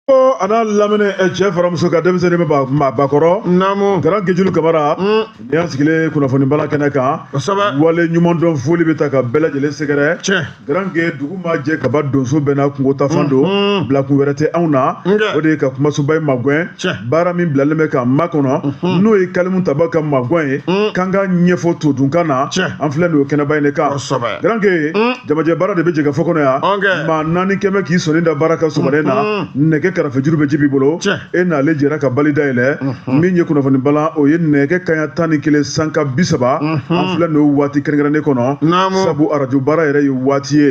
a n'a lamini cɛ fara muso kan denmisɛnnin maabakɔrɔ naamu garanke julu kamara nin y'an sigilen kunnafoni bala kɛnɛ kan kosɛbɛ waleɲumandɔn foli bɛ ta ka bɛɛ lajɛlen sɛgɛrɛ tiɲɛ garanke dugu ma jɛ kaba donso bɛɛ n'a kungo tafan don bilakun wɛrɛ tɛ anw na o de ye ka kumasoba in magwɛn baara min bilalen bɛ k'an makɔnɔ n'o ye kalimu tabaga magwɛn ye k'an ka ɲɛfɔ todunkan na an filɛ nin o kɛnɛba in de kan kosɛbɛ garanke mm. jamajɛ baara de bɛ jɛkafɔ kɔnɔ yan maa naani kɛmɛ k'i sɔnin da baara kan sɔgɔma nin na mm-hmm. nɛgɛ karafejuru bɛ jibi bolo e n'ale jɛra ka bali dayɛlɛ mm-hmm. min ye kunnafoni balan o ye nɛgɛ kanɲɛ tan ni kelen sanga bi saba mm-hmm. an filɛ n'o waati kɛrɛnkɛrɛnnen kɔnɔ sabu arajo baara yɛrɛ ye waati ye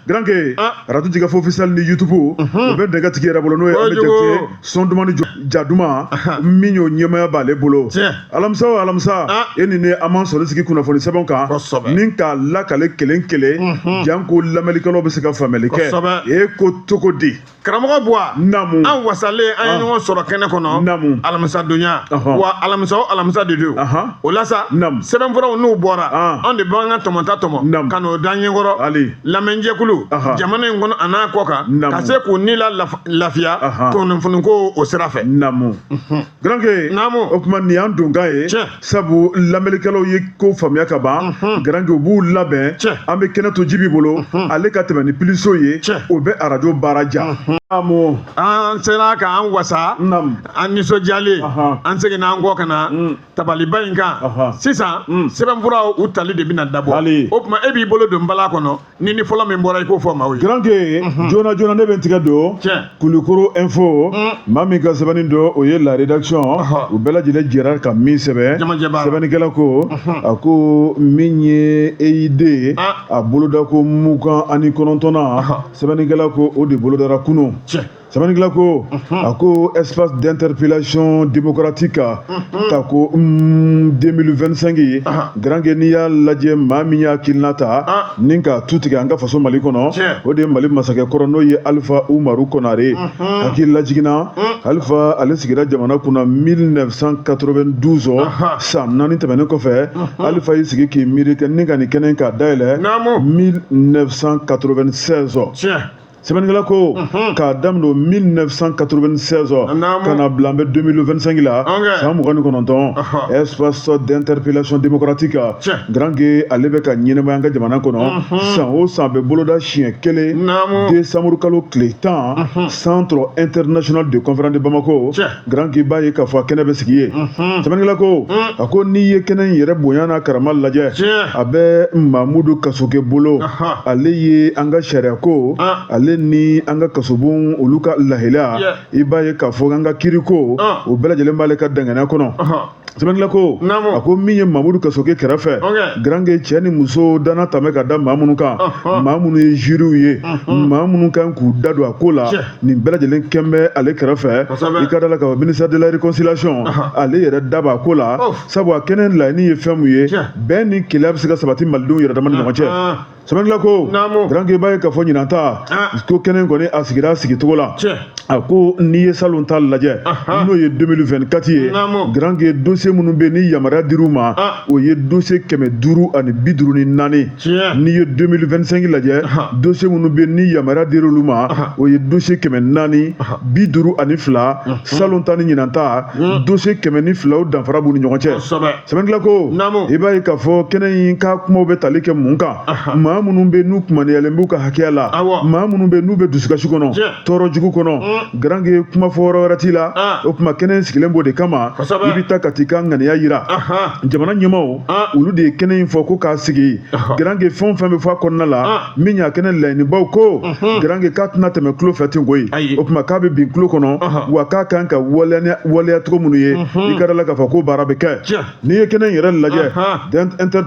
garanke ah. arajo jɛkafɔ officiel ni YouTube o bɛ nɛgɛ tigi yɛrɛ bolo n'o ye ali jakite son duman ni ja duman min y'o ɲɛmaaya b'ale bolo alamisa o alamisa ah. e ni ne an b'an sɔrɔ sigi kunnafoni sɛbɛnw kan ni k'a lakale kelen kelen mhm. janko lamɛnnikɛlaw bɛ se ka faamuyali kɛ e ko cogo di karamɔgɔ buwa namu an wasalen an ye ah. ɲɔgɔn sɔrɔ kɛnɛ kɔnɔ namu alamisa donya wa alamisa o alamisa de don o la sa namu sɛbɛnfuraw n'u bɔra ah. an de b'an ka tɔmɔta tɔmɔ ka n'o da ɲɛkɔrɔ lamɛnjɛkulu jamana in kɔnɔ a n'a kɔkan ka se k'u ni la lafiya kunnafoniko o sira fɛ naamu garanke naamu o tuma nin y'an donkan ye sabu lamɛnnikɛlaw ye ko faamuya ka ban garanke u b'u labɛn an bɛ kɛnɛ to jibi bolo ale ka tɛmɛ ni piliso ye o bɛ arajo baara diya naamu an sera k'an wasa an nisɔndiyalen an seginna an kɔ ka na mm. tabaliba in kan sisan mm. sɛbɛnfuraw u tali de bɛna dabɔ o tuma e b'i bolo don bala kɔnɔ ni ni fɔlɔ min bɔra i k'o fɔ maaw ye. garanke mhm. joona joona ne bɛ n tigɛ don. tiɲɛ kulukoro info. Mm. maa min ka sɛbɛnni don o ye la rédaction. u bɛɛ lajɛlen jɛra ka min sɛbɛn. jamajɛ b'a la sɛbɛnnikɛla ko. Mhm. a ko min ye EID ye. Ah. a bolodako mugan ani kɔnɔntɔnnan. sɛbɛnnikɛla ko o de bolodara kunun. tiɲɛ. sɛbɛnnikɛla ko mhm. a ko espace d'interpellation démocratique mhm. tako 2025 ye garanke n'i y'a lajɛ maa min y'a hakilina ta ah. ni ka tu tigɛ an ka faso mali kɔnɔ o de ye mali masakɛ kɔrɔ n'o ye alifa umaru konare mhm. hakili lajiginna mm. alifa ale sigira jamana kunna 1992 san naani tɛmɛnen kɔfɛ alifa y'i sigi k'i miiri ni ka nin kɛnɛ k'a dayɛlɛ 1996 sɛbɛnnikɛla ko k'a daminɛ 1996 ka na bila an bɛ 2025 la san mugan ni kɔnɔntɔn espace d'interpellation démocratique garanke ale bɛ ka ɲɛnamaya an ka jamana kɔnɔ san o san a bɛ boloda siɲɛ kelen décembre kalo tile tan centre international de conférence de bamako garanke i b'a ye k'a fɔ a kɛnɛ bɛ sigi yen sɛbɛnnikɛla ko a ko n'i ye kɛnɛ in yɛrɛ bonya n'a karama lajɛ a bɛ mamudu kasoke bolo ale ye an ka sariya ko ale ni an ka kasobon olu ka lahalaya i b'a ye k'a fɔ an ka kiriko o bɛɛ lajɛlen b'ale ka danganiya kɔnɔ sɛbɛnnikɛla ko naamu a ko min ye mamudu kasoke kɛrɛfɛ Ok. garanke cɛ ni muso dana tun bɛ ka da maa minnu kan Ɔhɔn. maa minnu ye juryw ye maa minnu kan k'u da don a ko la Cɛ. nin bɛɛ lajɛlen kɛn bɛ ale kɛrɛfɛ Kosɛbɛ. i ka da la k'a fɔ ministère de la réconciliation Ɔhɔn. ale yɛrɛ da b'a ko la Ɔf. sabu a kɛnɛ laɲini ye fɛn min ye Cɛ. bɛn ni kelenya bɛ se ka sabati malidenw yɛrɛ dama ni ɲɔgɔn cɛ Ɔhɔn. sɛbɛnnikɛla ko garanke i b'a ye k'a fɔ ɲinan ta ko kɛnɛ kɔni a sigira sigicogo la a ko n'i ye salon ta lajɛ n'o ye 2024 ye garanke dossier minnu bɛ ni yamaruya dir'u ma o ye dossier kɛmɛ duuru ani bi duuru ni naani n'i ye 2025 lajɛ dossier minnu bɛ ni yamaruya dir'olu ma o ye dossier kɛmɛ naani bi duuru ani fila salon ta ni ɲinan ta dossier kɛmɛ ni fila o danfara b'u ni ɲɔgɔn cɛ sɛbɛnnikɛla ko i b'a ye k'a fɔ kɛnɛ in ka kumaw bɛ tali kɛ mun kan maa minnu bɛ n'u kumaniyalen b'u ka hakɛya la maa minnu bɛ n'u bɛ dusukasi kɔnɔ tɔɔrɔ jugu kɔnɔ mm. garanke kuma fɔ yɔrɔ wɛrɛ t'i la ah. o tuma kɛnɛ in sigilen b'o de kama i bɛ taa ka t'i ka ŋaniya yira jamana ɲɛmaaw ah. olu de ye kɛnɛ in fɔ ko k'a sigi garanke fɛn o fɛn bɛ fɔ a kɔnɔna la ah. min y'a kɛnɛ laɲinibaw ko garanke k'a tɛna tɛmɛ tulo fɛ ten koyi o tuma k'a bɛ bin tulo kɔnɔ wa k'a kan ka waleya cogo minnu ye i ka da la k'a fɔ k'o baara bɛ kɛ n'i ye kɛnɛ in yɛrɛ lajɛ inter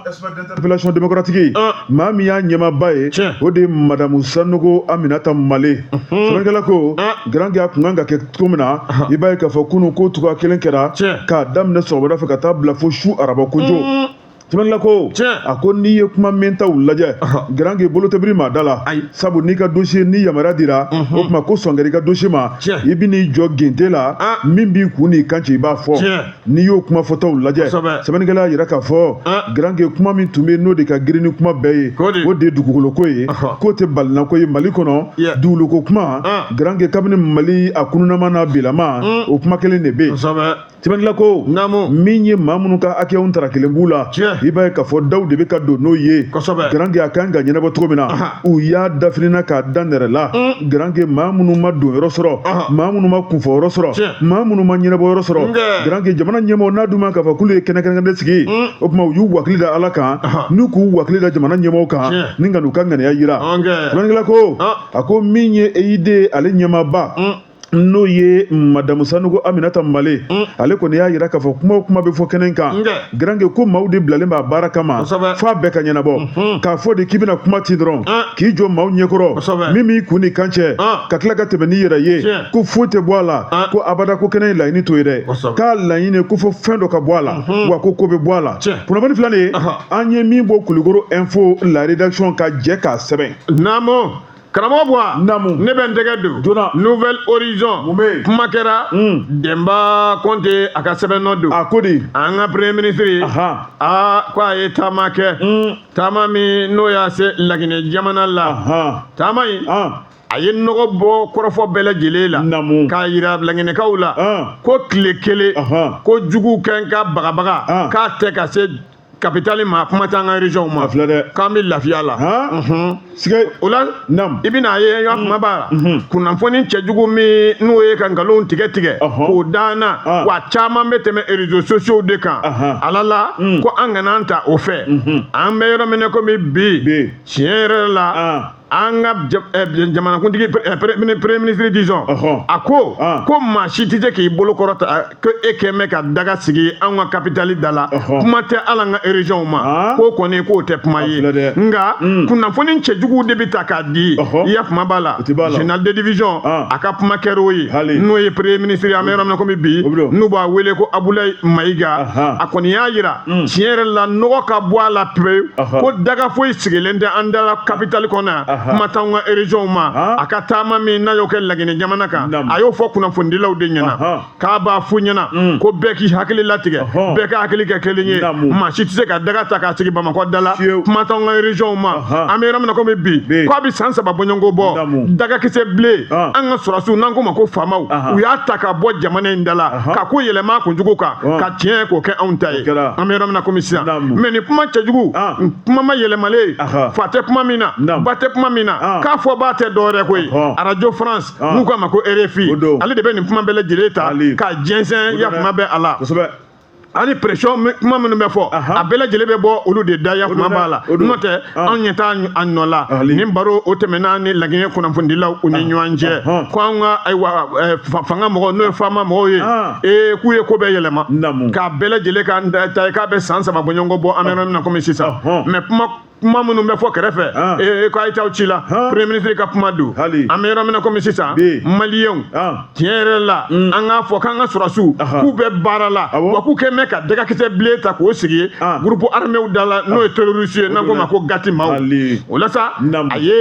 espace d'interpellation démocratique maa min y'a ɲɛmaaba ye o de ye madamu sanogo aminata male sɛbɛnnikɛla ko garanke a tun kan ka kɛ cogo min na i b'a ye k'a fɔ kunun k'o cogoya kelen kɛra k'a daminɛ sɔgɔmada fɛ ka taa bila fo su araba kojo sɛbɛnnikɛla ko a ko n'i ye kuma mɛntaw lajɛ garanke bolo tɛ biri maa da la sabu n'i ka dossier ni yamaruya dira o tuma ko sɔn kɛra i ka dossier ma i bɛ n'i jɔ gente la min b'i kun n'i kan ci i b'a fɔ n'i y'o kuma fɔtaw lajɛ sɛbɛnnikɛla y'a yira k'a fɔ garanke kuma min tun bɛ n'o de ka girin ni kuma bɛɛ ye o de ye dugukoloko ye k'o tɛ balinako ye mali kɔnɔ dugukolo ko kuma garanke kabini mali a kununama n'a bilama o kuma kelen de bɛ yen sɛbɛnnikɛla ko naamu min ye maa minnu ka hakɛyaw tara kelen b'u la i b'a ye k'a fɔ daw de bɛ ka don n'o ye garanke a kan ka ɲɛnabɔ cogo min na u y'a dafinina k'a da nɛrɛ la mm. garanke maa minnu ma don yɔrɔ sɔrɔ maa minnu ma kunfɔ yɔrɔ sɔrɔ maa minnu ma ɲɛnabɔ yɔrɔ sɔrɔ garanke jamana ɲɛmɔgɔ n'a dun ma k'a fɔ k'olu ye kɛnɛ kɛnɛ kɛnɛ sigi mm. o tuma u y'u wakili da ala kan n'u k'u wakili da jamana ɲɛmɔgɔ kan ni ka n'u ka ŋaniya yira sɛbɛnnikɛla ko a ko min ye EID ale ɲɛmaaba mm. n'o ye madamu sanugo aminata male mm. ale kɔni y'a yira k'a fɔ kuma o kuma bɛ fɔ kɛnɛ kan garange ko maaw de bilalen b'a baara kama fo a bɛɛ ka ɲɛnabɔ mm-hmm. k'a fɔ de k'i bɛna kuma ti dɔrɔn ah. k'i jɔ maaw ɲɛkɔrɔ min b'i kun ni kan cɛ ah. ka tila ka tɛmɛ n'i yɛrɛ ye ko foyi tɛ bɔ a la ah. ko abada ko kɛnɛ ye laɲini to ye dɛ k'a laɲini ko fo fɛn dɔ ka bɔ a la mm-hmm. wa ko ko bɛ bɔ a la kunnafoni fila nin an ye min bɔ kulukoro info la rédaction ka jɛ k'a sɛbɛn karamɔgɔ buwa namu ne bɛ n tɛgɛ don joona nouvel horizon mun bɛ yen kuma kɛra denba kɔnte a ka sɛbɛn nɔ don a ko di an ka premier ministre ye aa ko a ye taama kɛ taama min n'o y'a se laginɛ jamana la taama in a ye nɔgɔ bɔ kɔrɔfɔ bɛɛ lajɛlen la k'a yira laginɛkaw la ko tile kelen ko jugu kɛ n ka bagabaga k'a tɛ ka se kapitali ma kuma t'an ka régionw ma filɛ dɛ k'an bɛ lafiya la sike o la i bɛna a ye yɔrɔ kuma b'a la kunnafoni cɛjugu min n'o ye ka nkalon tigɛ tigɛ k'o da an na wa caman bɛ tɛmɛ réseaux sociaux de kan ala la ko an kana an ta o fɛ an bɛ yɔrɔ min na komi bi tiɲɛ yɛrɛ la an ka eh, jamanakuntigi eh, premier ministre disons a ko ko maa si tɛ se k'i bolo kɔrɔta ko e kɛn bɛ ka daga sigi an ka kapitali da la kuma tɛ ala an ka régionw ma ah. k'o kɔni k'o tɛ kuma ye nka hmm. kunnafoni cɛjuguw de bɛ ta k'a di i ya kuma b'a la général de division ah. a ka kuma kɛra o ye n'o ye premier ministre an bɛ yɔrɔ min na komi bi n'u b'a wele ko abulayi mayiga a kɔni y'a jira Mm. tiɲɛ yɛrɛ la nɔgɔ ka bɔ a la pewu ko daga foyi sigilen tɛ an dala kapitali kɔnɔ yan kuma t'anw ka régionw ma a ka taama min n'a y'o kɛ laginɛ jamana kan a y'o fɔ kunnafonidilaw de ɲɛna k'a b'a f'u ɲɛna mm. ko bɛɛ k'i hakili latigɛ bɛɛ ka hakili kɛ kelen ye maa si tɛ se ka daga ta k'a sigi bamakɔ dala kuma t'anw ka régionw ma an bɛ yɔrɔ min na komi bi ko a bɛ san saba bɔɲɔgɔnko bɔ dagakisɛ bilen an ka sɔrɔdasiw n'an k'o ma ko faamaw u y'a ta ka bɔ jamana in dala ka ko yɛlɛma kunjugu kan ka tiɲɛ k'o kɛ anw ta ye an bɛ yɔrɔ min na komi sisan mais nin kuma cɛjugu kuma mayɛlɛmalen fa tɛ kuma min na ba tɛ kuma min na k'a fɔbaa tɛ dɔwɛrɛ ko ye radio france n'u k'a ma ko rfi ale de bɛ nin kuma bɛɛ lajɛlen ta ka jɛnsɛn ya kuma bɛ a la ani pression kuma minnu bɛ fɔ a bɛɛ lajɛlen bɛ bɔ olu de da ya kuma b'a la n'o tɛ anw ɲɛ t'a nɔ la nin baro o tɛmɛna ni laginɛ kunnafonidilaw u ni ɲɔgɔn cɛ ko an ka ayiwa fanga mɔgɔw n'o ye faama mɔgɔw ye ee k'u ye ko bɛɛ yɛlɛma k'a bɛɛ lajɛlen k'an ta ye k'a bɛ san saba bɔɲɔgɔnko bɔ an bɛ yɔrɔ min na komi sisan mais kuma kuma minnu bɛ fɔ kɛrɛfɛ ee ko a ye t'aw ci la premier ministre ka kuma don an bɛ yɔrɔ min na komi sisan maliyɛnw tiɲɛ yɛrɛ la mm. an k'a fɔ k'an ka sɔrɔsiw k'u bɛ baara la ah wa k'u kɛ mɛn ka dagakisɛ bilen ta k'o sigi ah. groupe arméw da la n'o ye ah. terroriste ye n'an k'o ma ko gati maaw o la sa a ye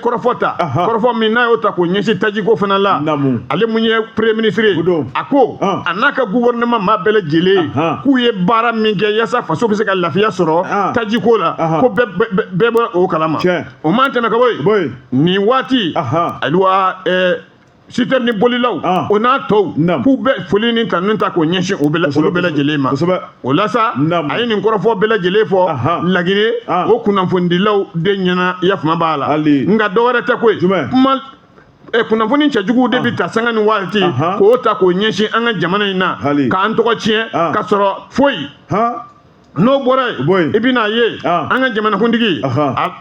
kɔrɔfɔ ta kɔrɔfɔ min n'a y'o ta k'o ɲɛsin tajiko fana la ale mun ye premier ministre ye a ko a n'a ka gouvernement maa bɛɛ lajɛlen k'u ye baara min kɛ yaasa faso bɛ se ka lafiya sɔrɔ tajiko la ko bɛɛ b'o kalama o man tɛmɛ ka bɔ yen nin waati ayiwa citerne bolilaw ah. o n'a tɔw k'u bɛ foli ni tanun ta k'o ɲɛsin olu bɛɛ lajɛlen ma o la sa a ye nin kɔrɔfɔ bɛɛ lajɛlen fɔ laginɛ ah. o kunnafonidilaw de ɲɛna yafama b'a la nka dɔ wɛrɛ tɛ koyi kuma eh, kunnafoni cɛjugu de bɛ ah. ta sanga ni waati k'o ta k'o ɲɛsin an ka jamana in na k'an tɔgɔ tiɲɛ ka sɔrɔ foyi n'o bɔra yen i bɛn'a ye ah. an ka jamanakuntigi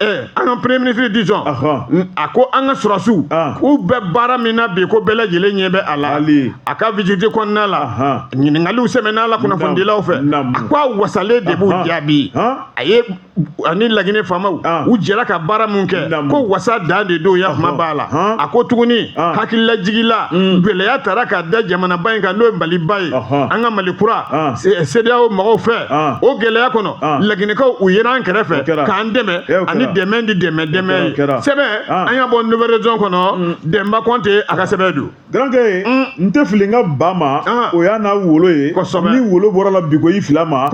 eh, an ka premier ministre disons a ko an ka sɔrɔsiw ah. k'u bɛ baara min na bi ko bɛɛ lajɛlen ɲɛ bɛ a la a ka visite kɔnɔna la ɲininkaliw sɛmɛn'a la kunnafonidilaw fɛ a ko a wasalen de b'u jaabi a ye ani laginɛ faamaw u jɛra ka baara min kɛ ko wasa dan de don ya kuma b'a la a ko tuguni hakililajigi la mm. gɛlɛya tara ka da jamanaba in kan n'o ye maliba ye an ka mali kura sedeyawo mɔgɔw fɛ o gɛlɛya kɔnɔ laginɛkaw u yera an kɛrɛfɛ k'an dɛmɛ ani dɛmɛ di dɛmɛ dɛmɛ ye sɛbɛn an y'a bɔ nouvel horizon kɔnɔ mm. demba kɔnte a ka sɛbɛn don garankɛ mm. n tɛ fili n ka ba ma ah. o y'a n'a wolo ye ni wolo bɔr'a la bi ko i fil'a ma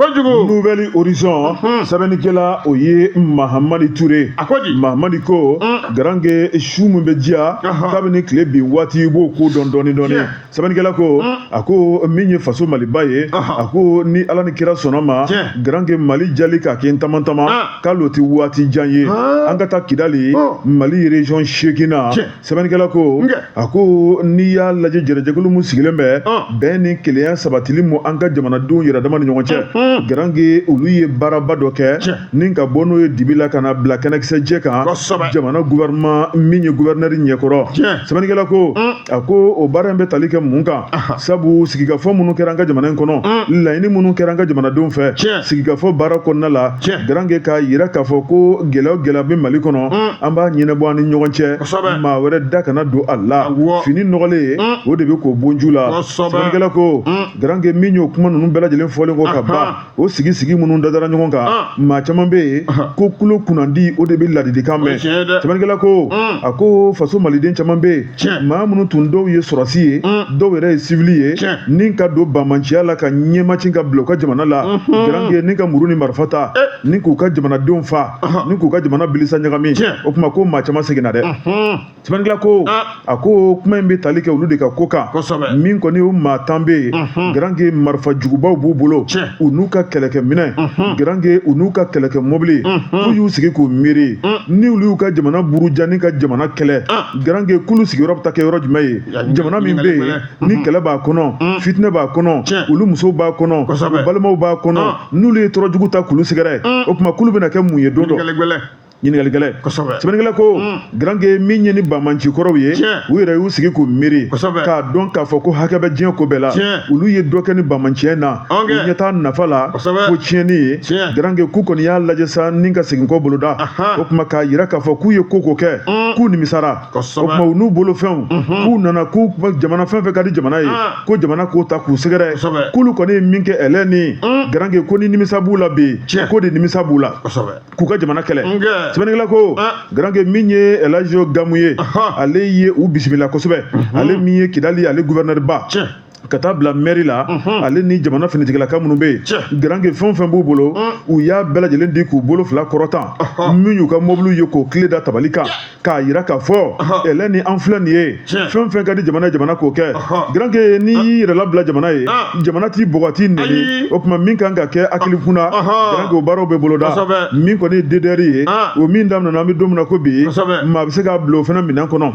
nouvel horizon mm-hmm. sɛbɛnnikɛla o ye mahamadi ture mahamadi ko mm. garankɛ su min bɛ diya kabini tile bin waati i b'o ko dɔn dɔɔni dɔɔni sɛbɛnnikɛla ko mm. a ko min ye faso maliba ye a ko ni ala ni kira sɔnna ma garankɛ mali jali k'a kɛ n taman taman ah. kalo tɛ waati jan ye ah. an ka taa kidali oh. mali région seeginnan sɛbɛnnikɛla ko a ko n'i y'a lajɛ jɛrɛjɛkulu min sigilen bɛ bɛn ni kelenya sabatili mu an ka jamanadenw yɛrɛdama ni ɲɔgɔn cɛ garankɛ olu ye baaraba dɔ kɛ ni ka bɔ n'o ye dibi la ka n'a bila kɛnɛkisɛjɛ kan jamana gouvernement min ye gouverneur ɲɛkɔrɔ sɛbɛnnikɛla ko a ko o baara in bɛ tali kɛ mun kan sabu sigikafɔ minnu kɛra an ka jamana in kɔnɔ laɲini minnu kɛra an ka jamanadenw fɛ sigikafɔ baara kɔnɔna la garankɛ k'a jira k'a fɔ ko gɛlɛya o gɛlɛya bɛ mali kɔnɔ an b'a ɲɛnabɔ an ni ɲɔgɔn cɛ maa wɛrɛ da kana don a la fini nɔgɔlen o de bɛ ko bonju la sɛbɛnnikɛla ko garankɛ min y'o kuma ninnu bɛɛ lajɛlen fɔlen kɔ ka ban o sigi sigi minnu dadara ɲɔgɔn kan maa caman bɛ yen ko kulo kunnandi o de bɛ ladilikan mɛn sɛbɛnnikɛla ko a ko faso maliden caman bɛ yen maa minnu tun dɔw ye sɔrɔdasi ye mm. dɔw yɛrɛ ye sivili ye ni ka don bamanciya la ka ɲɛmacin ka bila u ka jamana la mm-hmm. garange ni ka muru ni marifa ta eh. ni k'u ka jamanadenw fa uh-huh. ni k'u ka jamana bilisa ɲagami o tuma ko maa caman seginna dɛ mm-hmm. sɛbɛnnikɛla ko ah. a ko kuma in bɛ tali kɛ olu de ka ko kan min kɔni o maa tan bɛ yen mm-hmm. garange marifa jugubaw b'u bolo u n'u ka kɛlɛkɛminɛn garange u n'u ka kɛlɛkɛ mɔbili k'u y'u sigi k'u miiri mm. ni olu y'u ka jamana buruja ni ka jamana kɛlɛ ah. garange k'olu sigiyɔrɔ bɛ taa kɛ yɔrɔ jumɛn ye jamana min bɛ yen ni kɛlɛ b'a kɔnɔ mm. fitinɛ b'a kɔnɔ olu musow b'a kɔnɔ u balimaw b'a kɔnɔ ah. n'olu ye tɔɔrɔ jugu ta k'olu sɛgɛrɛ mm. o tuma k'olu bɛna kɛ mun ye don dɔ ɲininkali gɛlɛn sɛbɛnnikɛla ko mm. garange min ye ni bamanci kɔrɔw ye u yɛrɛ y'u sigi k'u miiri k'a dɔn k'a fɔ ko hakɛ bɛ diɲɛ ko bɛɛ la olu ye dɔ kɛ ni bamanciya in na u ɲɛ t'a nafa la kosɛbɛ fo tiɲɛni ye Tiɲɛ. garanke k'u kɔni y'a lajɛ sa ni ka segin kɔ boloda Ahan. o tuma k'a yira k'a fɔ k'u ye ko o ko kɛ k'u nimisara o Kosɛbɛ. tuma u n'u bolofɛnw k'u nana ko jamana fɛn fɛn ka di jamana ye Ah. ko jamana k'o ta k'u sɛgɛrɛ Kosɛbɛ. k'olu kɔni ye min kɛ ɛlɛ ni garanke ko ni nimisa b'u la bi Tiɲɛ. ko de nimisa b'u la kosɛbɛ k'u ka jamana kɛlɛ Nkɛ. sɛbɛnnikɛla ko Ah. garanke min ye elajo gamu ye Ahan. ale ye u bisimila kosɛbɛ ale min ye kidali ale guvɛrinɛriba Tiɲɛ. ka taa bila mɛri la ale ni jamana finitigilaka minnu bɛ yen garanke fɛn fɛn b'u bolo u y'a bɛɛ lajɛlen di k'u bolo fila kɔrɔta min y'u ka mɔbiliw ye k'o kile da tabali kan k'a yira k'a fɔ ɛlɛ ni an filɛ nin ye fɛn fɛn ka di jamana ye jamana k'o kɛ garanke n'i y'i yɛrɛ labila jamana ye jamana t'i bugɔ t'i nɛni o tuma min kan ka kɛ hakili kunna garanke o baaraw bɛ boloda min kɔni ye dedɛri ye o min daminɛna an bɛ don min na ko bi maa bɛ se k'a bila o fana minɛn kɔnɔ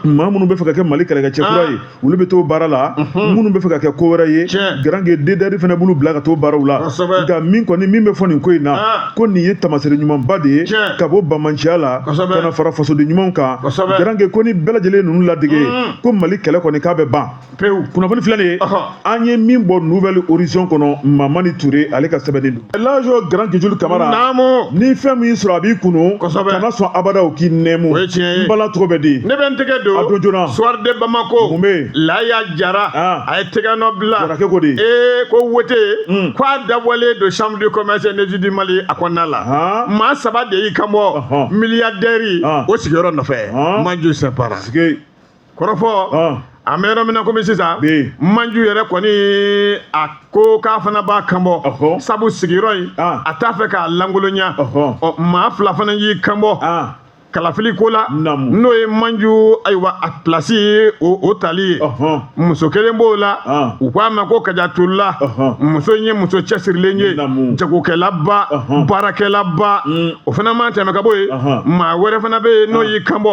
maa minnu bɛ fɛ ka kɛ mali kɛlɛkɛcɛ kura ye olu bɛ t'o baara la minnu bɛ fɛ ka kɛ ko wɛrɛ ye garange dedɛri fana b'olu bila ka t'o baaraw la nka min kɔni min bɛ fɔ nin ko in na ah. ko nin ye tamasere ɲumanba de ye ka bɔ bamanciya la ka na fara fasoden ɲumanw kan garange ko ni bɛɛ lajɛlen ye ninnu ladege mm. ko mali kɛlɛ kɔni k'a bɛ ban kunnafoni filɛ nin ye an ye min bɔ nouvel horizon kɔnɔ mamani ture ale ka sɛbɛnni don lajo grand kijulu kamara naamu ni fɛn min y'i sɔrɔ a b'i kunu kosɛbɛ kana sɔn abada o k'i nɛmu o ye tiɲɛ ye n bala tɔgɔ bɛ di ne bɛ n tɛgɛ don a don joona soir de bamako mun bɛ yen laya jara ah. a ye tɛgɛnɔ bila jarakɛ ko di ee ko wote hmm. ko a dabɔlen don chambre de commerce et d'industrie du mali a kɔnɔna la ah. maa saba de y'i kanbɔ miliyadɛri ah. o sigiyɔrɔ nɔfɛ manju sinpara kɔrɔfɔ an bɛ yɔrɔ min na komi sisan manju yɛrɛ kɔni a ko k'a fana b'a kanbɔ sabu sigiyɔrɔ in a t'a fɛ k'a lankolonya ɔ maa fila fana y'i kanbɔ kalafili ko la n'o ye manju ayiwa a pilasi ye o tali ye muso kelen b'o la u k'a ma ko kajatulula muso in ye muso cɛsirilen ye jagokɛlaba baarakɛlaba mm. o fana mana tɛmɛ ka bɔ yen maa wɛrɛ fana bɛ yen n'o y'i kanbɔ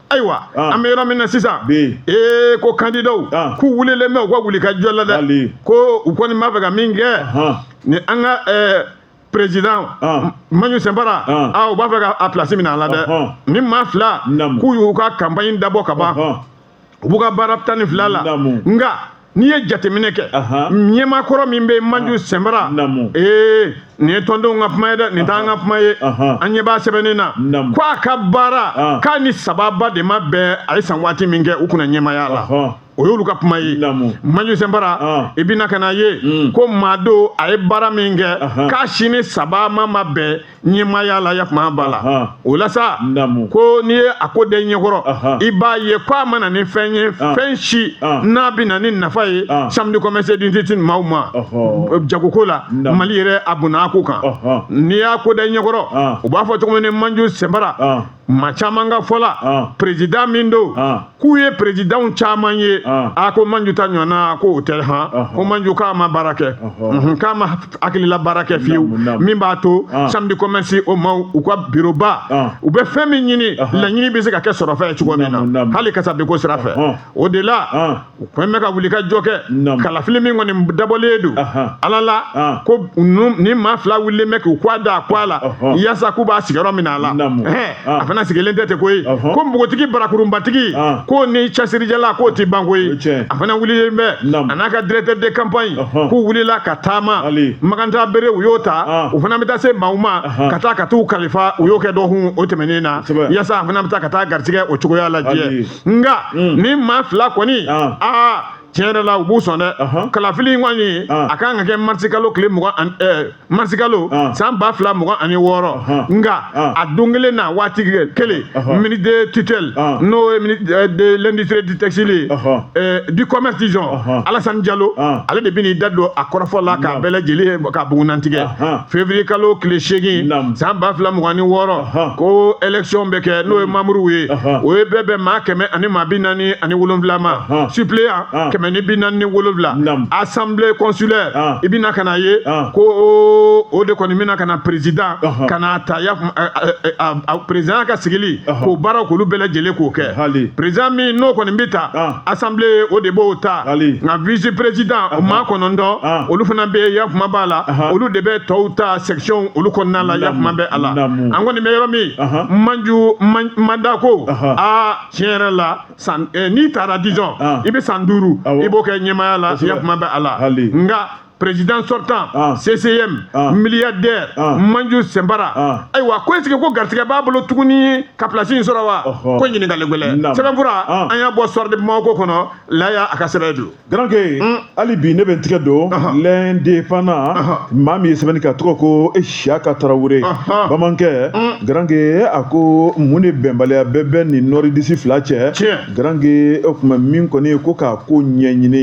ayiwa ah. an bɛ yɔrɔ min na sisan ee ko candidatw ah. k'u wulilen bɛ u ka wuli ka jɔ la dɛ ko u kɔni b'a fɛ ka min kɛ ni an ka eh, président ah. manju sɛnbara u b'a fɛ ka a place minɛ a la dɛ ni maa fila k'u y'u ka campagne dabɔ ka ban u b'u ka baara tan ni fila la nka n'i ye jateminɛ kɛ ɲɛmaa kɔrɔ min bɛ manju sɛnbara ee nin ye tɔndenw ka kuma ye dɛ nin t'an ka kuma ye an ɲɛ b'a sɛbɛnnen na ko a ka baara k'a ni sababa de ma bɛn a ye san waati min kɛ u kunna ɲɛmaaya la o y'olu ka kuma ye manju sɛnbara i bɛna ka na ye ko maa don a ye baara min kɛ k'a si ni sababa ma bɛn ɲɛmaaya la yafama b'a la Ahan. o la sa Naamu. ko n'i ye a ko da i ɲɛkɔrɔ Ahan. i b'a ye ko a ma na ni fɛn ye Ah. fɛn si Ah. n'a bɛ na ni nafa ye Ah. chambre de commerce et d'industrie maaw ma Ɔhɔ. jagoko la Naamu. mali yɛrɛ a bonna a ko kan Ɔhɔ. n'i y'a ko da i ɲɛkɔrɔ Ah. u b'a fɔ cogo min ni manju sɛnbara Ah. maa caman ka fɔ la ah. président min don ah. k'u ye présidentw caman ye ah. a ko manju ta ɲɔgɔnna ko o tɛ han ko manju k'a ma baara kɛ mhm, k'a ma hakilila baara kɛ fiyewu min b'a to chambre de commerce o maaw u ka biroba u bɛ fɛn min ɲini laɲini bɛ se ka kɛ sɔrɔfɛn ye cogo min na hali kasabiko sira fɛ o de la u ko bɛ ka wuli ka jɔ kɛ kalafili min kɔni dabɔlen don ala la ko ni maa fila wulilen bɛ k'u k'a da a k'a la yasa k'u b'a sigiyɔrɔ minɛ a la a fana sigilen tɛ ten koyi ko npogotigi barakurunbatigi k'o ni cɛsirijala k'o tɛ ban koyi a fana wulilen bɛ a n'a ka directeur de campagne k'u wulila ka taama magantabere u y'o ta u fana bɛ taa se maaw ma ka taa ka t'u kalifa u y'o kɛ dɔgɔkun o tɛmɛnen na yasa a fana bɛ taa ka taa garisigɛ o cogoya lajɛ nka mm. ni maa fila kɔni ah. aa tiɲɛ yɛrɛ la u b'u sɔn dɛ kalafili in kɔni ah. a kan ka kɛ marisikalo tile eh, marisikalo ah. san ba fila mugan ani wɔɔrɔ nka a don kelen na waati kelen ministre de tutelle n'o ye ministre eh, de l'industrie du textile ye eh, du commerce disons Alassane Diallo ale de bɛ n'i da don a kɔrɔfɔ la k'a bɛɛ lajɛlen ka bugunnatigɛ février kalo tile seegin san ba fila mugan ni wɔɔrɔ ko élection bɛ kɛ n'o ye mamuruw ye o ye bɛɛ bɛn maa kɛmɛ ani maa bi naani ani wolonwula ma suppléant kɛmɛ ni bi naani ni wolonwula assemblée consulaire i bɛna ka na ye ko o de kɔni bɛna ka na président ka na ta ya président ka sigili k'o baaraw k'olu bɛɛ lajɛlen k'o kɛ président min n'o kɔni bɛ ta assemblée o de b'o ta nka vice président o maa kɔnɔntɔn olu fana bɛ yafama b'a la olu de bɛ tɔw ta section olu kɔnɔna la yakuma bɛ a la an kɔni bɛ yɔrɔ min Manju mandat ko aa tiɲɛ yɛrɛ la san eh, n'i taara disons i bɛ san duuru i b'o kɛ ɲɛmaaya la yakuma bɛ a la nka président sortant ah. CCM ah. milliardaire ah. Manju Sembara ah. ayiwa ko est-ce que ko garisigɛ b'a bolo tuguni ka place in sɔrɔ wa ko ɲininkali gɛlɛn sɛbɛnfura ah. an y'a bɔ Soir de Bamako kɔnɔ Laya a ka sɛbɛn don Garankɛ hali bi ne bɛ n tigɛ don l'Indépendant maa min ye sɛbɛnni kɛ a tɔgɔ ko Isiyaka Tarawele bamanankɛ garankɛ a ko mun de bɛnbaliya bɛɛ bɛ nin nordistes fila cɛ garankɛ o tuma min kɔni ye ko k'a ko ɲɛɲini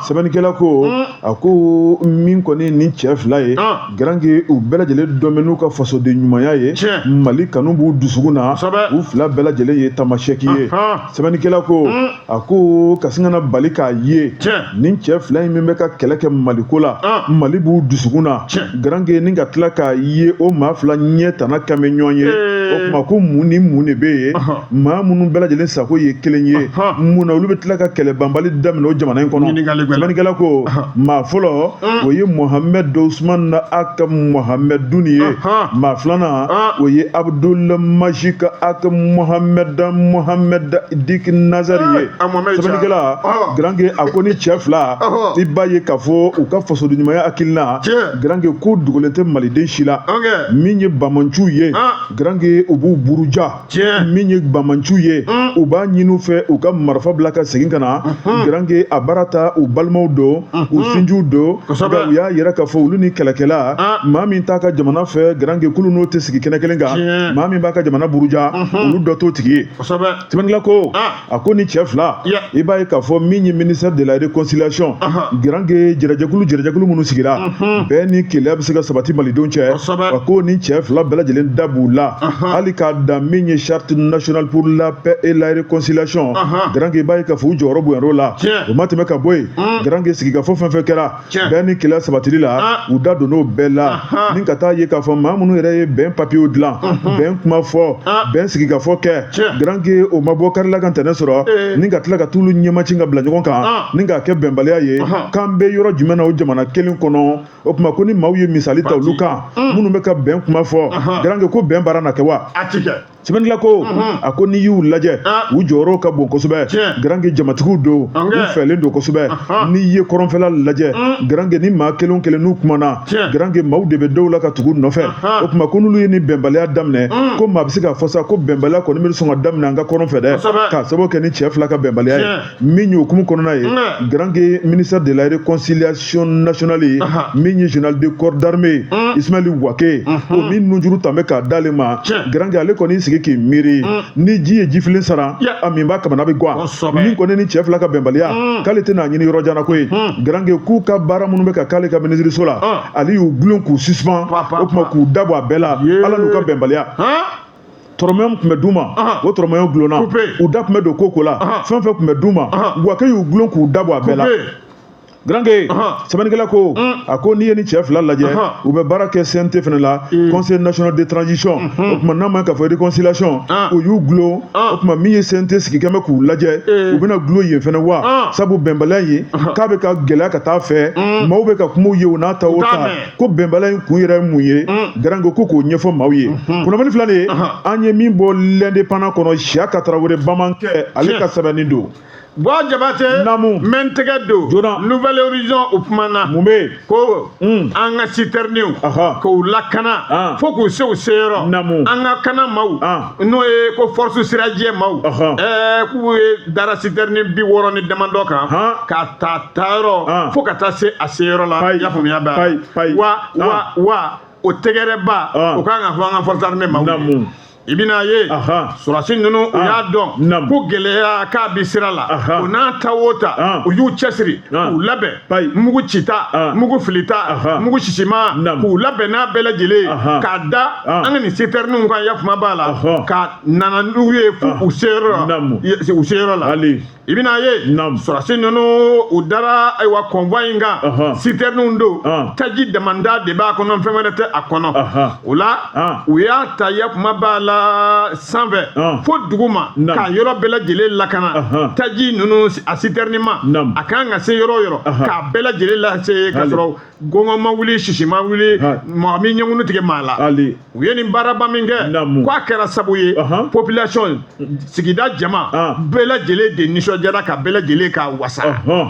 sɛbɛnnikɛla ko a ko min kɔni ni cɛ fila ye garankɛ u bɛɛ lajɛlen dɔnnen bɛ n'u ka fasoden ɲumanya ye mali kanu b'u dusukun na u fila bɛɛ lajɛlen ye tamasɛki ye sɛbɛnnikɛla ko mm. a ko ka sin ka na bali k'a ye nin cɛ fila in min bɛ ka kɛlɛ kɛ maliko la ah. mali b'u dusukun na garange ni ka tila k'a ye o maa fila ɲɛ tana kan bɛ ɲɔgɔn ye eh. o tuma ko mun ni mun de bɛ yen maa minnu bɛɛ lajɛlen sago ye kelen ye mun na olu bɛ tila ka kɛlɛ banbali daminɛ o jamana in kɔnɔ sɛbɛnnikɛla ko maa fɔlɔ o ye mohamɛd usumani ag mohamɛdun ye maa filanan o ye abudul majidi ag mohamɛd mohamɛd dit nazari ye sɛbɛnnikɛla garange a ko ni cɛ fila i b'a ye k'a fɔ u ka fasoden ɲumanya hakilina garange k'o dogolen tɛ maliden si la min ye banbaanciw ye garange u b'u buruja tiɲɛ min ye banbaanciw ye mm. u b'a ɲini u fɛ u ka marifa bila ka segin ka na mm-hmm. garanke a baara ta u balimaw don u mm-hmm. sinjiw don nka u y'a yira k'a fɔ olu ni kɛlɛkɛla ah. maa min t'a ka jamana fɛ garanke k'olu n'o tɛ sigi kɛnɛ kelen kan maa min b'a ka jamana buruja mm-hmm. olu dɔ t'o tigi ye sɛbɛnnikɛla ko ah. a ko ni cɛ fila i b'a ye k'a fɔ min ye ministère de la réconciliation garanke jɛrɛjɛkulu jɛrɛjɛkulu minnu sigira mhm. bɛn ni kelenya bɛ se ka sabati malidenw cɛ a ko ni cɛ fila bɛɛ lajɛlen da b'u la hali k'a dan min ye charte nationale pour la paix et la réconciliation garanke i b'a ye k'a fɔ u jɔyɔrɔ bonyana o la o ma tɛmɛ ka bɔ yen mhm. garanke sigikafɔ fɛn fɛn kɛra bɛn ni kelenya sabatili la ah. u da donn'o bɛɛ la ni ka t'a ye k'a fɔ maa minnu yɛrɛ ye bɛn papiyew dilan bɛn kuma fɔ ah. bɛn sigikafɔ kɛ garanke o ma bɔ kari la ka ntɛnɛn sɔrɔ eh. ni ka tila ka t'olu ɲɛmaci ka bila ɲɔgɔn kan ah. ni k'a kɛ bɛnbaliya ye k'an bɛ yɔrɔ jumɛn na o jamana kelen kɔnɔ o tuma ko ni maaw ye misali ta olu kan minnu bɛ ka bɛn kuma fɔ garanke ko bɛn baara na kɛ wa sɛbɛnnikɛla ko a ko n'i y'u lajɛ u jɔyɔrɔ ka bon kosɛbɛ garange jamatigiw don u fɛlen don kosɛbɛ n'i ye kɔrɔnfɛla lajɛ garange ni maa kelen kelen n'u kumana garange maaw de bɛ dɔw la ka tugu u nɔfɛ o tuma ko n'olu ye ni bɛnbaliya daminɛ ko maa bɛ se k'a fɔ sa ko bɛnbaliya kɔni bɛ sɔn ka daminɛ an ka kɔrɔn fɛ dɛ k'a sababu kɛ ni cɛ fila ka bɛnbaliya ye min ye o hukumu kɔnɔna ye garanke ministère de la réconciliation nationale ye min ye général de corps d'armée mm. ismaël wagué mm-hmm. o min nujuru tun bɛ k'a d'ale ma garanke ale kɔni sigi k'i miiri mm. ni ji ye jifilen sara a minbaa kamana bɛ gwan min kɔni nin cɛ fila ka bɛnbaliya mm. k'ale tɛn'a ɲini yɔrɔ jan na ko ye garanke k'u ka baara minnu bɛ ka k'ale ka minisiriso la ale y'u gulon k'u suspend o tuma k'u da bɔ a bɛɛ la ala n'u ka bɛnbaliya tɔrɔmɛw tun bɛ d'u ma o tɔrɔmɛw gulonna u da tun bɛ don ko ko la fɛn fɛn tun bɛ d'u ma wagué y'u gulon k'u da bɔ a bɛɛ la garanke sɛbɛnnikɛla ko a ko n'i ye nin cɛ fila lajɛ u bɛ baara kɛ cnt fana la mm. conseil national de transition mm-hmm. o tuma n'a ma k'a fɔ réconciliation u y'u gulon o tuma min ye cnt sigi kɛmɛ k'u lajɛ eh. u bɛna gulon yen fana wa sabu bɛnbaliya ye k'a bɛ ka gɛlɛya ka t'a fɛ mm. maaw bɛ ka kumaw ye o n'a ta o ta ko bɛnbaliya in kun yɛrɛ mun ye mm. garanke ko k'o ɲɛfɔ maaw ye mm-hmm. kunnafoni fila de ye uh-huh. an ye min bɔ l'indépendant kɔnɔ siyaka tarawele bamankɛ ale ka sɛbɛnni don bɔn jabate namu min tɛgɛ don journal nouvel horizon o kumana mun bɛ ko mm. an ka sitɛriniw k'u lakana ah. fo k'u se u seyɔrɔ namu an ka kana maaw ah. n'o ye ko force sirajɛ maaw ɛɛ k'u ye dara sitɛrini bi wɔɔrɔ ni damadɔ kan k'a ta a tayɔrɔ fo ka taa se a seyɔrɔ la i y'a faamuya bɛɛ wa wa wa o tɛgɛrɛba o kan ka fɔ an ka force armée maaw ye i bɛna ye sɔrɔsi ninnu u y'a dɔn ko gɛlɛya k'a bi sira la o n'a ta o ta u y'u cɛsiri k'u labɛn mugu cita ah. mugu filita ah. mugu sisima k'u labɛn n'a bɛɛ lajɛlen ah. k'a da an ka nin sitɛriniw kan yafama b'a la ka nana n'u ye fo u seyɔrɔ la u seyɔrɔ la i bɛna ye sɔrɔsi ninnu u dara ayiwa convoi in kan sitɛriniw don taji damanda de b'a kɔnɔ fɛn wɛrɛ tɛ a kɔnɔ o la Ah. u y'a ta yafama b'a la sanfɛ ah. fo duguma k'a yɔrɔ bɛɛ lajɛlen lakana taji ninnu a sitɛrinima a kan ka se yɔrɔ o yɔrɔ k'a bɛɛ lajɛlen lase ka sɔrɔ gɔngɔn ma wuli sisi ma wuli mɔgɔ min ɲɛkunu tigɛ maa la u ye nin baaraba min kɛ k'a kɛra sabu ye population sigida jama ah. bɛɛ lajɛlen de nisɔndiyara ka bɛɛ lajɛlen ka wasa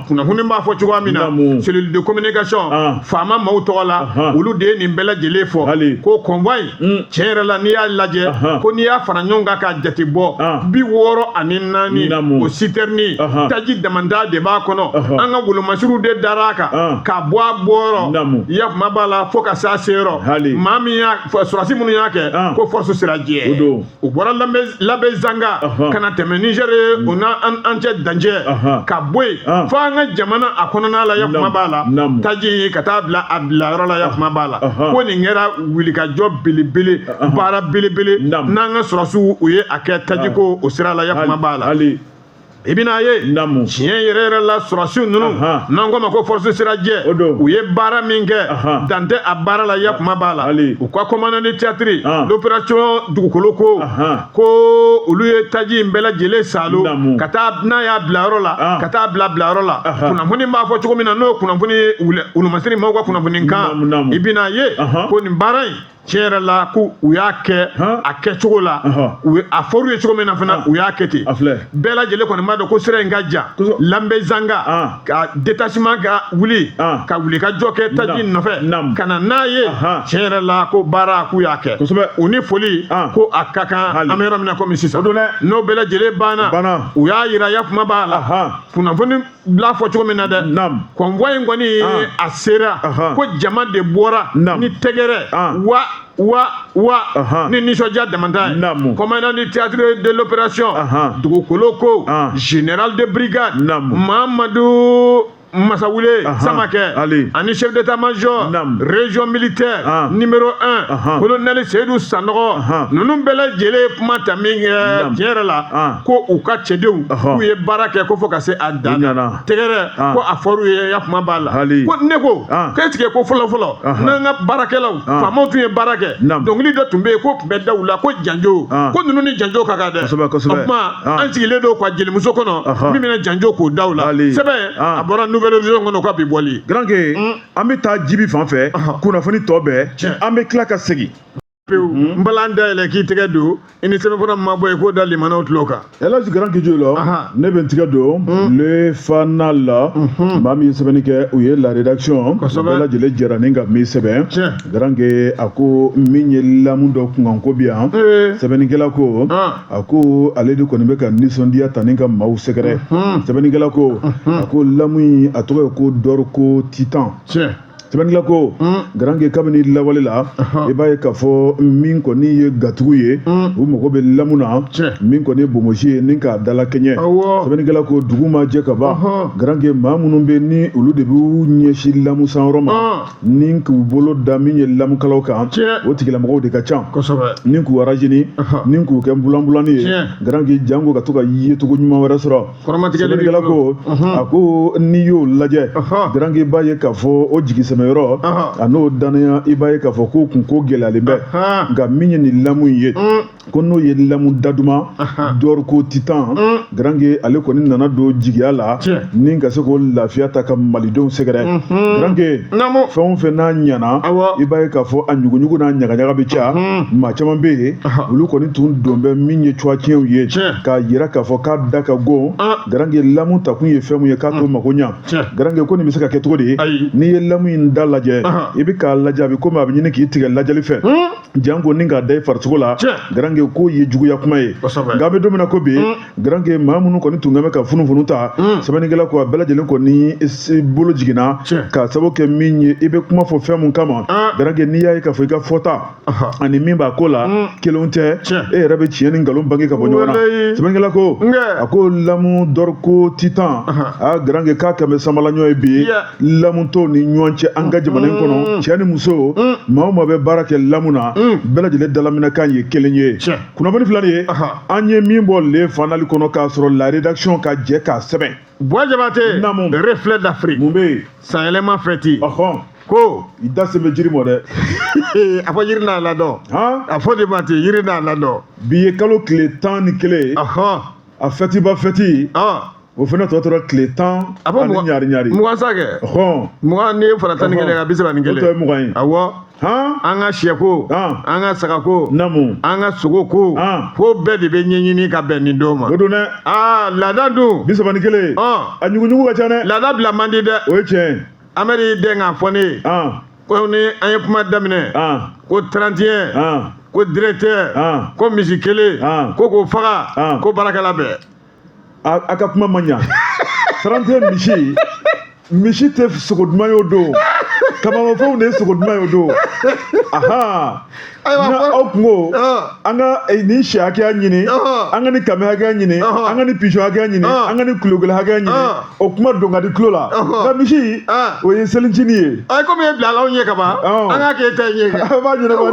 kunnafoni b'a fɔ cogoya min na cellule de communication ah. faama maaw tɔgɔ la olu de ye nin bɛɛ lajɛlen fɔ ko convoi in hmm. tiɲɛ yɛrɛ la n'i y'a lajɛ ko n'i y'a fara ɲɔgɔn kan ka jate bɔ ah. bi wɔɔrɔ ani naani o sitɛrini taji damanda de b'a kɔnɔ an ka wolomasiriw de dara a kan ka bɔ a bɔyɔrɔ yafama b'a la fo ka se a seyɔrɔ maa min y'a sɔrɔsi minnu y'a kɛ ko force sirajɛ u bɔra labezanga ka na tɛmɛ niger mm. o ni an cɛ dancɛ ka bɔ yen ah. fo an ka jamana a kɔnɔna la yafama b'a la taji ka taa bila a bilayɔrɔ la yafama b'a la ko nin kɛra wulikajɔ belebele baara belebele n'an ka sɔrɔsiw u ye a kɛ tajiko ah. o sira la yafama b'a la i bɛna ye tiɲɛ yɛrɛ yɛrɛ la sɔrɔdasiw ninnu n'an k'o ma ko force sirajɛ u ye baara min kɛ dan tɛ a baara la ya kuma b'a la u ka commandant de théâtre l'opération dugukoloko ko olu ye taji in bɛɛ lajɛlen salo ka taa n'a y'a bilayɔrɔ la ka taa bila bilayɔrɔ la kunnafoni b'a fɔ cogo min na n'o kunnafoni wulumasiri maaw ka kunnafoni kan i bɛna ye ko nin baara in tiɲɛ yɛrɛ la ko u y'a kɛ a kɛ cogo la a fɔr'u ye cogo min na fana u y'a kɛ ten bɛɛ lajɛlen kɔni b'a dɔn ko sira in ka jan labezanga ka détachement ka wuli ka wuli ka jɔ kɛ taji nɔfɛ ka na n'a ye tiɲɛ yɛrɛ la ko baara k'u y'a kɛ u ni foli ko a ka kan an bɛ yɔrɔ min na komi sisan n'o bɛɛ lajɛlen banna u y'a yira ya kuma b'a la kunnafoni bila fɔ cogo min na dɛ convoi in kɔni ah. a sera ko jama de bɔra ni tɛgɛrɛ ah. wa wa wa ni nisɔndiya damanta ye commandant du théâtre de l'opération dugukoloko ah. général de brigade mamadu masawule samakɛ ani chef d'état major région militaire numéro 1 colonel seyidu sanɔgɔ ninnu bɛɛ lajɛlen ye kuma ta min kɛ tiɲɛ yɛrɛ la ko u ka cɛdenw k'u ye baara kɛ ko fo ka se a dan na tɛgɛrɛ ah. ko a fɔr'u ye ya kuma b'a la ko ne ko ah. k'est-ce que ko fɔlɔ fɔlɔ ah. n'an ka baarakɛlaw faamaw tun ye baara kɛ dɔnkili dɔ tun bɛ yen ko tun bɛ da u la ko janjo ko ninnu ni janjo ka kan dɛ o tuma an sigilen don ka jelimuso kɔnɔ min bɛna janjo k'o da u la sɛbɛn a bɔra nouvel horizon kɔnɔ k'a bi bɔli. garanke hmm. an bɛ taa jibi fan fɛ kunnafoni tɔ bɛɛ an bɛ tila ka segin. pewu mhm. n balan dayɛlɛ k'i tɛgɛ don i ni sɛbɛnfura ma bɔ yen k'o da lamɛnnaw tulo kan. ɛlaji garanke jo la ne bɛ n tɛgɛ don mhm. le fana la mhm. maa min ye sɛbɛnni kɛ u ye la rédaction bɛɛ lajɛlen jɛra ni ka min sɛbɛn garanke a ko min ye lamu dɔ kunkanko bi yan sɛbɛnnikɛla ko a ko ale de kɔni bɛ ka nisɔndiya ta ni ka maaw sɛgɛrɛ sɛbɛnnikɛla ko a ko lamu in a tɔgɔ ye ko dorco titan. sɛbɛnnikɛla ko garanke kabini lawale la i b'a ye k'a fɔ min kɔni ye gatigiw ye u mago bɛ lamu na min kɔni ye bonbonsi ye ni k'a dala kɛɲɛ sɛbɛnnikɛla ko dugu ma jɛ ka ban garanke maa minnu bɛ ni olu de b'u ɲɛsin lamu sanyɔrɔ ma ni k'u bolo da min ye lamukalaw kan o tigilamɔgɔw de ka ca ni k'u arazini ni k'u kɛ bulanbulani ye garanke janko ka to ka yecogo ɲuman wɛrɛ sɔrɔ Sɛbɛnnikɛla ko a ko n'i y'o lajɛ garanke b'a ye k'a fɔ o jigisɛmɛ yɔrɔ a n'o dannaya i b'a ye k'a fɔ k'o kunko gɛlɛyalen bɛ nka min ye nin lamu ye ko n'o ye lamu da duman dorco titan garanke ale kɔni nana don jigiya la ni ka se k'o lafiya ta ka malidenw sɛgɛrɛ garanke fɛn o fɛn n'a ɲana i b'a ye k'a fɔ a ɲuguɲugu n'a ɲagaɲaga bɛ ca maa caman bɛ yen olu kɔni tun don bɛ min ye catiɲɛw ye k'a jira k'a fɔ da ka go ah. garange lamu ta kun ye fɛn mun ye k'a to ah. mako ɲa garange ko nin bɛ se ka kɛ cogo di n'i ye lamu in da lajɛ ah. i bɛ k'a lajɛ a bɛ komi a bɛ ɲini k'i tigɛ lajɛli fɛ hmm? janko ni k'a da i farisogo la garange ko ye juguya kuma ye nka a bɛ don min na ko bi hmm? garange maa minnu kɔni tun bɛ ka funufunu ta hmm? sɛbɛnnikɛla ko a bɛɛ lajɛlen kɔni bolo jiginna k'a sababu kɛ min ye i bɛ kuma fɔ fɛn mun kama garange n'i y'a ye k'a fɔ i ka fɔta ani min b'a ko la mm. kelenw tɛ e yɛrɛ bɛ tiɲɛ ni nkalon bange ka bɔ ɲɔgɔn na sɛbɛnnikɛla ko a ko lamu dɔrɔko titan a garange k'a kɛlen bɛ sanbala ɲɔ ye bi lamu tɔw ni ɲɔgɔn cɛ an ka jamana in mm. kɔnɔ cɛ ni muso mm. maa o maa bɛ baara kɛ lamu na bɛɛ lajɛlen dalaminɛkan ye kelen ye kunnafoni fila nin ye an ye min bɔ le fanali kɔnɔ k'a sɔrɔ la rédaction ka jɛ k'a sɛbɛn Buwa Jabate, Namu. reflet d'Afrique. Mun bɛ yen? Sanyɛlɛma fɛti. Ɔhɔn. Ko. I da se bɛ jiri mɔ dɛ. a fɔ yiri n'a ladɔn. Han. A fɔ de ma ten yiri n'a ladɔn. Bi ye kalo tile tan ni kelen ye. Ɔhɔn. A fɛtiba fɛti. Ɔn. O fana tɔ tora tile tan A fɔ ani mugan- ɲari ɲari. Mugan sa kɛ. Ɔhɔn. Mugan n'i y'a fara tan ni kelen kan, bi saba ni O kelen. tɔ ye mugan ye. Awɔ. an ka sɛko an ka sagako namu an ka sogoko fo bɛɛ de bɛ ɲɛɲini ka bɛn nin don ma o don dɛ aa laada dun bi saba ni kelen a ɲuguɲugu ka ca dɛ laada bila man di dɛ o ye tiɲɛ amadu den k'a fɔ ne ye ko ni an ye kuma daminɛ ko 31 ko directeur ko misi kelen ko k'o faga ko baarakɛla bɛɛ a ka kuma ma ɲa 31 misi misi tɛ sogo duman ye o don kamanmafɛnw de ye sogo duman ye o don ahan na aw kungo an ka eh, nin sɛ hakɛya ɲini an ka nin kami hakɛya ɲini an ka nin pizɔn hakɛya ɲini an ka nin kulokolo hakɛya ɲini o kuma don ka di tulo la nka misi o ye selincini ye ayi komi e bilala anw ɲɛ kaban an k'a kɛ e ta in ye kɛ an b'a ɲɛnabɔ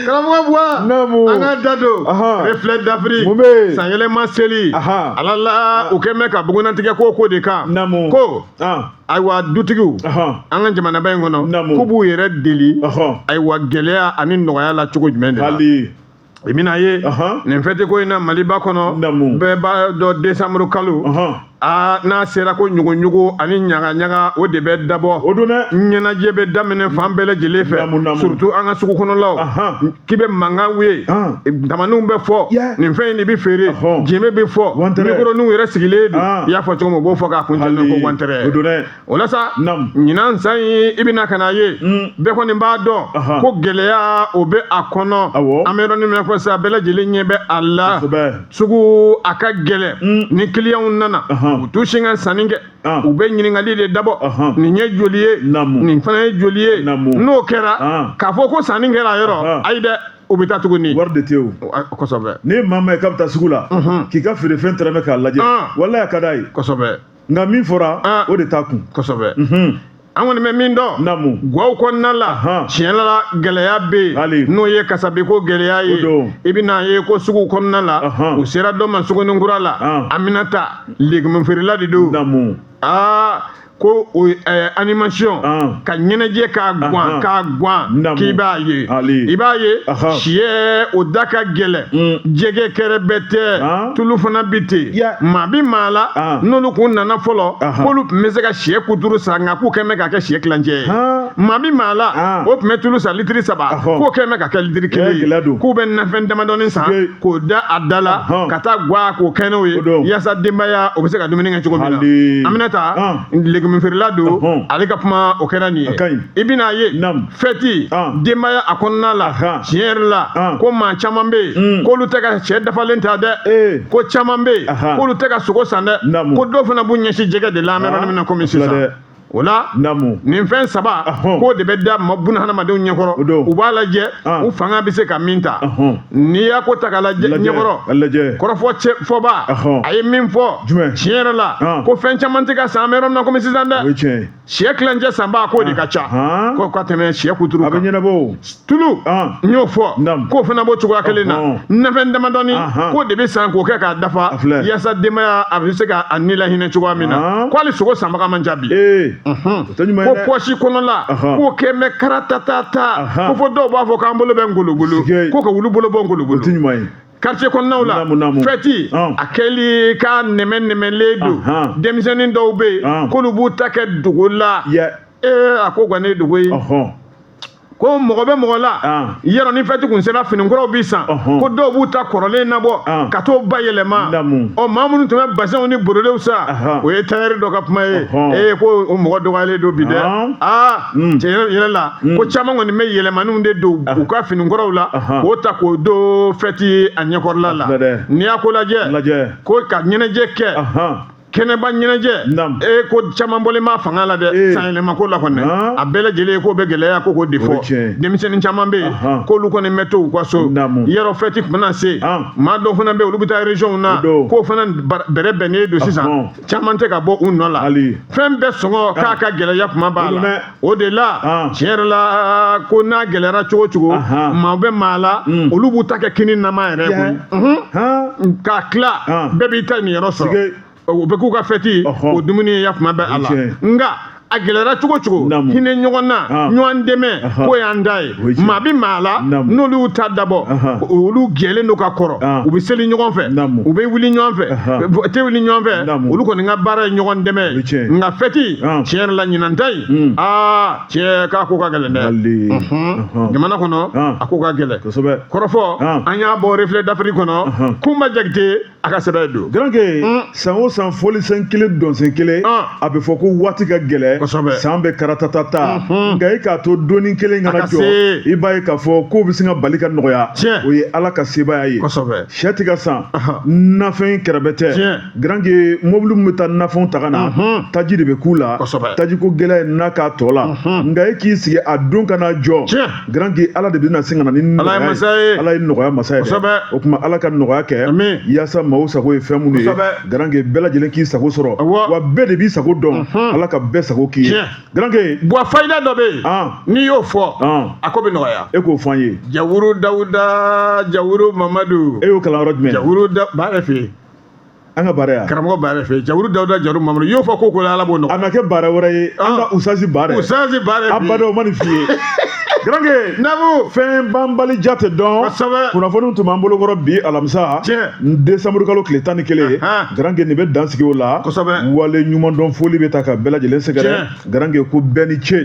karamɔgɔ buwa an ka da don reflet d'afrique mun bɛ yen sanyɛlɛma seli ala la u kɛlen bɛ ka bugunnatigɛ ko ko de kan ko ayiwa dutigiw an ka jamanaba in kɔnɔ k'u b'u yɛrɛ deli ayiwa gɛlɛya ani nɔgɔya la cogo jumɛn de la i bɛna ye nin fɛtiko in na maliba kɔnɔ bɛɛ b'a dɔn décembre kalo aa n'a sera ko ɲuguɲugu ani ɲagaɲaga o de bɛ dabɔ o don dɛ ɲɛnajɛ bɛ daminɛ fan bɛɛ lajɛlen fɛ Naamu, naamu. surtout an ka sugu kɔnɔlaw Ahan. k'i bɛ mankan ye Ahan. tamaniw bɛ fɔ Yeah. nin fɛn in de bɛ feere Ahɔn. jenbe bɛ fɔ Wantɛrɛ. mikoroninw yɛrɛ sigilen don Ahan. i y'a fɔ cogo min u b'o fɔ k'a kuncɛlen ko wantɛrɛ o don dɛ o la sa Naam. ɲinan san in i bɛna ka n'a ye Mm. bɛɛ kɔni b'a dɔn Aha. ko gɛlɛya o bɛ a kɔnɔ Awɔ. an bɛ yɔrɔnin min na ko sa bɛɛ lajɛlen ɲɛ bɛ a la Kosɛbɛ. sugu a ka gɛlɛn Mm. ni kiliyanw nana Aha. u t'u sin ka sanni kɛ Ah. u bɛ ɲininkali de dabɔ Aha. nin ye joli ye Naamu. nin fana ye joli ye Naamu. n'o kɛra Ah. k'a fɔ ko sanni kɛra a yɔrɔ Ah. ayi dɛ u bɛ taa tuguni wari de tɛ yen o Ah, kosɛbɛ ni maa ma ye k'a bɛ taa sugu la k'i ka feerefɛn tɛrɛmɛ k'a lajɛ Ah. walayi a ka d'a ye kosɛbɛ nka min fɔra ah. o de t'a kun kosɛbɛ mhm. an kɔni bɛ min dɔn naamu gwaw kɔnɔna la tiɲɛ la gɛlɛya bɛ yen n'o ye kasabiko gɛlɛya ye i bɛna ye ko sugu kɔnɔna la u sera dɔ ma suguninkura la ah. Aminata legumufeerela de don aa ko o eh, animation ah. ka ɲɛnajɛ k'a gwan ah, ah. k'a gwan k'i b'a ye i b'a ye siyɛ o da ka gɛlɛn mm. jɛgɛ kɛrɛbɛtɛ tulu fana bi ten maa bi maa la ah. n'olu kun nana fɔlɔ k'olu tun bɛ se ka siyɛ kuturu san nka k'u kɛn bɛ ka kɛ siyɛ kilancɛ ye maa bi maa la ah. o tun bɛ tulu san litiri saba k'o kɛn bɛ ka kɛ litiri kelen ye k'u bɛ nafɛn damadɔni san k'o da a da la ka taa gwa ko kɛ n'o ye yaasa denbaya o bɛ se ka dumuni kɛ cogo min na Aminata ah. legumufeerela don ale ka kuma o kɛra nin ye i bɛna ye fɛti denbaya a kɔnɔna la tiɲɛ yɛrɛ la ko maa caman bɛ yen mm. k'olu tɛ ka sɛ dafalen ta dɛ eh. ko caman bɛ yen k'olu tɛ ka sogo san dɛ ko dɔw fana b'u ɲɛsin jɛgɛ de la an bɛ yɔrɔ min na komi sisan o la nin fɛn saba k'o de bɛ da buna hadamadenw ɲɛkɔrɔ u b'a lajɛ u fanga bɛ se ka min ta n'i y'a ko ta k'a lajɛ ɲɛkɔrɔ kɔrɔfɔ fɔba a ye min fɔ tiɲɛ yɛrɛ la ko fɛn caman tɛ ka san an bɛ yɔrɔ min na komi sisan dɛ sɛ kilancɛ sanbaa k'o de ka ca ko ka tɛmɛ sɛ kuturu kan a bɛ ɲɛnabɔ o tulu n y'o fɔ k'o fana b'o cogoya kelen na nafɛn damadɔni k'o de bɛ san k'o kɛ k'a dafa yaasa denbaya a bɛ se ka a ni lahinɛ cogoya min na ko hali sogo sanbaga man ca bi ko pɔsi kɔnɔla k'o kɛn bɛ karatata ko fɔ dɔw b'a fɔ k'an bolo bɛ ngologolo ko ka wulu bolo bɔ ngologolo quartier kɔnɔnaw la Naamu, naamu. fɛti Ɔn. a kɛli k'a nɛmɛnɛmɛlen don Ahan. denmisɛnnin dɔw bɛ yen Ɔn. k'olu b'u ta kɛ dogo la yɛ ee a ko kɔni ye dogo ye ɔhɔn ko mɔgɔ bɛ mɔgɔ la Ɔn. yɔrɔ ni fɛti kun sera finikuraw bi san Ɔhɔn. ko dɔw b'u ta kɔrɔlen nabɔ Ɔn. ka t'o bayɛlɛma Naamu. ɔ maa minnu tun bɛ basɛnw ni borodew san Ahan. o ye tayɛri dɔ ka kuma ye Ɔhɔn. ee ko o mɔgɔ dɔgɔyalen don bi dɛ Ɔn. aa Mm. tiɲɛ yɛrɛ la mm. ko caman kɔni bayɛlɛmaniw de don ah. u ka finikɔrɔw la k'o ta k'o don fɛti a ɲɛkɔrɔla la n'i y'a ko lajɛ ko ka ɲɛnajɛ kɛ kɛnɛba ɲɛnajɛ e ko caman bɔlen b'a fanga la dɛ eh. sanyɛlɛma ko la kɔni ah. a bɛɛ lajɛlen ko bɛ gɛlɛya ko ko de fɔ denmisɛnnin caman bɛ yen k'olu kɔni bɛ to u ka so yɔrɔ fɛti tun mana se ah. maa dɔw fana bɛ yen olu bɛ taa régionw na k'o fana bɛrɛ bɛnnen don sisan caman tɛ ka bɔ u nɔ la fɛn bɛɛ sɔngɔ ah. k'a ka gɛlɛya kuma b'a la o de la ah. tiɲɛ yɛrɛ la ko n'a gɛlɛyara cogo cogo maa bɛ maa la hmm. olu b'u ta kɛ kini nama yɛrɛ koyi k'a tila bɛɛ b'i ta niyɔrɔ sɔrɔ o bɛ k'u ka fɛti o dumuni ye kuma bɛ a la nka a gɛlɛyara cogo cogo hinɛ ɲɔgɔn na ɲɔgɔn dɛmɛ k'o y'an ta ye maa bɛ maa la n'olu y'u ta dabɔ olu jɛlen don ka kɔrɔ u bɛ seli ɲɔgɔn fɛ u bɛ wuli ɲɔgɔn fɛ tɛ wuli ɲɔgɔn fɛ olu kɔni ka baara ye ɲɔgɔn dɛmɛ ye nka fɛti tiɲɛ yɛrɛ la ɲinan ta in aa cɛ k'a ko ka gɛlɛn dɛ jamana kɔnɔ a ko ka gɛlɛn kɔrɔfɔ an y'a bɔ reflet d'afrique kɔnɔ kunba jakite a ka sɛbɛn don garanke mm. san o san fɔlisen kelen dɔnsen kelen ah. a bɛ fɔ ko waati ka gɛlɛn san bɛ karatata ta mm-hmm. nka e k'a to don in kelen ka na jɔ i b'a ye k'a fɔ kow bɛ sin ka bali ka nɔgɔya o ye ala ka sebaaya ye syɛ tɛ ka san nafɛn kɛrɛbɛtɛ garanke mobili min bɛ taa nafɛnw ta ka na mm-hmm. taji de bɛ k'u la taji ko gɛlɛya n'a k'a tɔ la mm-hmm. nka e k'i sigi a don ka na jɔ Garanke Ala de bɛna sin ka na ni nɔgɔya ye masa ye Ala ye nɔgɔya masa ye kosɛbɛ o tuma Ala ka nɔgɔya kɛ amin yaasa maaw sago ye fɛn minnu ye kosɛbɛ Garanke bɛɛ lajɛlen k'i sago sɔrɔ awɔ wa bɛɛ de b'i sago dɔn Ala ka bɛɛ sago k'i ye Garanke bɔn fayida dɔ bɛ yen n'i y'o fɔ a ko bɛ nɔgɔya e k'o fɔ an ye Jawuru Dawuda Jawuru Mamadu e y'o kalan yɔrɔ jumɛn Jawuru da b'a yɛrɛ fɛ yen an ka baara yan karamɔgɔ b'a yɛrɛ fɛ jawuru dawuda jawuru mamadu y'o fɔ ko ko ala b'o nɔgɔya a ma kɛ baara wɛrɛ ye an ka usasi baara usasi baara a badɔ ma nin f'i ye garanke nabu fɛn banbali ja tɛ dɔn kosɛbɛ kunnafoniw tun b'an bolo kɔrɔ bi alamisa tiɲɛ desanburu kalo tile tan ni kelen garanke nin bɛ dan sigi o la kosɛbɛ waleɲumandɔn foli bɛ taa ka bɛɛ lajɛlen sɛgɛrɛ garanke ko bɛɛ ni ce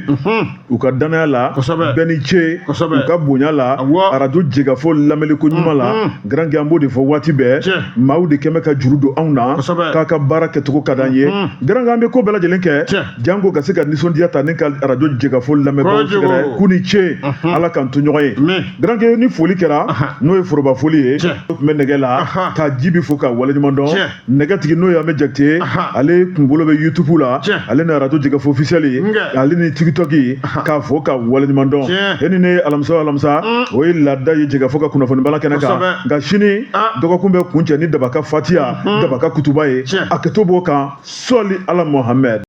u ka danaya la kosɛbɛ bɛɛ ni ce kosɛbɛ u ka bonya la awɔ arajo jekafo lamɛnniko ɲuman la Mhm. garanke an b'o de fɔ waati bɛɛ Tiɲɛ. maaw de kɛmɛ ka juru don anw na Kosɛbɛ. k'aw ka baara kɛcogo ka d'an ye Mhm. garanke an bɛ ko bɛɛ lajɛlen kɛ Tiɲɛ. janko ka se ka nisɔndiya ta ni ka arajo jekafo lamɛnbaaw Kojugu. sɛgɛrɛ k'u ni ce Mhm. ala k'an to ɲɔgɔn ye Amen. garanke ni foli kɛra Aha. n'o ye foroba foli ye Tiɲɛ. o tun bɛ nɛgɛ la Aha. ka jibi fo ka waleɲuman dɔn Tiɲɛ. nɛgɛtigi n'o ye amɛ jakite ye ale kunkolo bɛ youtube la ale ni arajo jekafo officiel ale ni tiktok k'a fo ka waleɲuman dɔn e ni ne alamisa o alamisa mm. o ye laada ye jekafo ka kunnafoni bala kɛnɛ kan nka sini ah. dɔgɔkun bɛ kuncɛ ni daba ka fatiya mm-hmm. daba ka kutuba ye a kɛto b'o kan sɔli ala mohamɛd